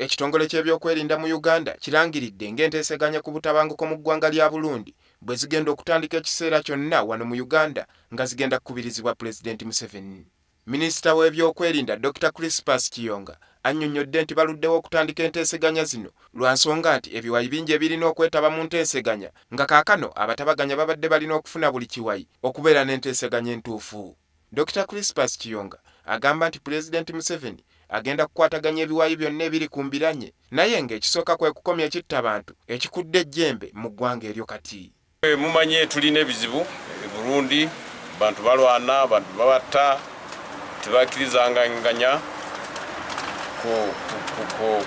Ekitongole ky'ebyokwerinda mu Uganda kirangiridde ng'enteeseganya ku butabanguko mu ggwanga lya Bulundi bwe zigenda okutandika ekiseera kyonna wano mu Uganda nga zigenda kukubirizibwa Pulezidenti Museveni. Minisita w'ebyokwerinda Dokita Crispus Kiyonga annyonnyodde nti baluddewo okutandika enteeseganya zino lwa nsonga nti ebiwayi bingi ebirina okwetaba mu nteeseganya nga kaakano abatabaganya babadde balina okufuna buli kiwayi okubeera n'enteeseganya entuufu. Dokita Crispus Kiyonga agamba nti Pulezidenti Museveni agenda kukwataganya ebiwayi byonna ebiri ku mbiranye naye nga ekisooka kwekukomya ekitta bantu ekikudde ejjembe mu ggwanga eryo kati. Mumanyi tulina ebizibu e Burundi, bantu balwana, bantu babatta, tebakirizanganya ku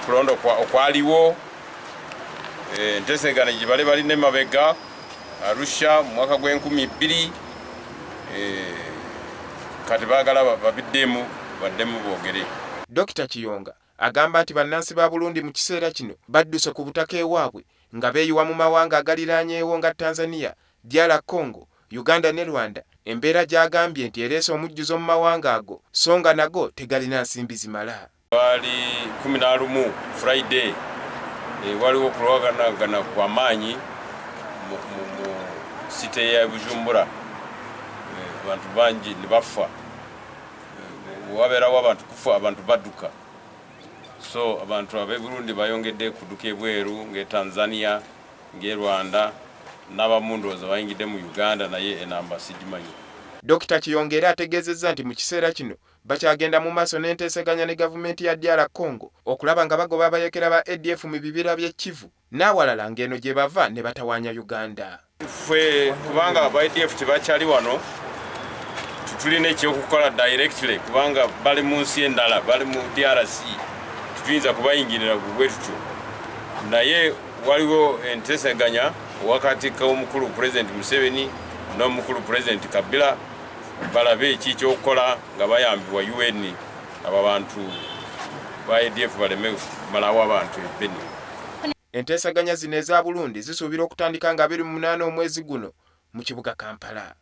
kulonda okwaliwo, enteeseganya gye bali balina emabega. Arusha mu mwaka gw'enkumi bbiri eh, kati baagala babiddemu baddemu boogere. Dokita Kiyonga agamba nti bannansi ba Burundi mu kiseera kino badduse ku butaka ewaabwe nga beeyiwa mu mawanga agaliraanyeewo nga Tanzania, DR Congo, Uganda ne Rwanda embeera gy'agambye nti ereese omujjuzo mu mawanga ago so nga nago tegalina nsimbi zimala. Lwali kumi na lumu Friday eh, waliwo okulwaganagana kwa maanyi mu site ya Bujumbura, eh, abantu bangi ne bafa. Eh, wabeerawo abantu kufa, abantu badduka. So abantu ab'e Burundi bayongedde kudduka ebweru ng'e Tanzania, ng'e Rwanda n'abamu ndowooza bayingidde mu Uganda naye enamba sigimanyi. Dokita Kiyonga era ategeezezza nti mu kiseera kino Bakyagenda mu maaso n'enteeseganya ne gavumenti ya DR Congo okulaba nga bagoba abayekera ba ADF mu bibira by'e Kivu n'awalala ng'eno gye bava ne batawaanya Uganda. Ffe kubanga aba ADF tebakyali wano, tetulina ekyokukola directly kubanga bali mu nsi endala, bali mu DRC, tetuyinza kubayingirira bwe tutyo. Naye waliwo enteeseganya wakati k'omukulu Pulezidenti Museveni n'omukulu Pulezidenti Kabila. balabe ki kyokukola nga bayambibwa UN abo abantu ba ADF baleme kumalawo abantu e Beni. Enteesaganya zino eza Bulundi zisuubira okutandika nga abiri mu munaana omwezi guno mu kibuga Kampala.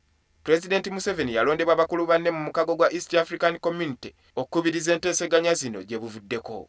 Pulezidenti Museveni yalondebwa bakulu banne mu mukago gwa East African Community okukubiriza enteeseganya zino gye buvuddeko.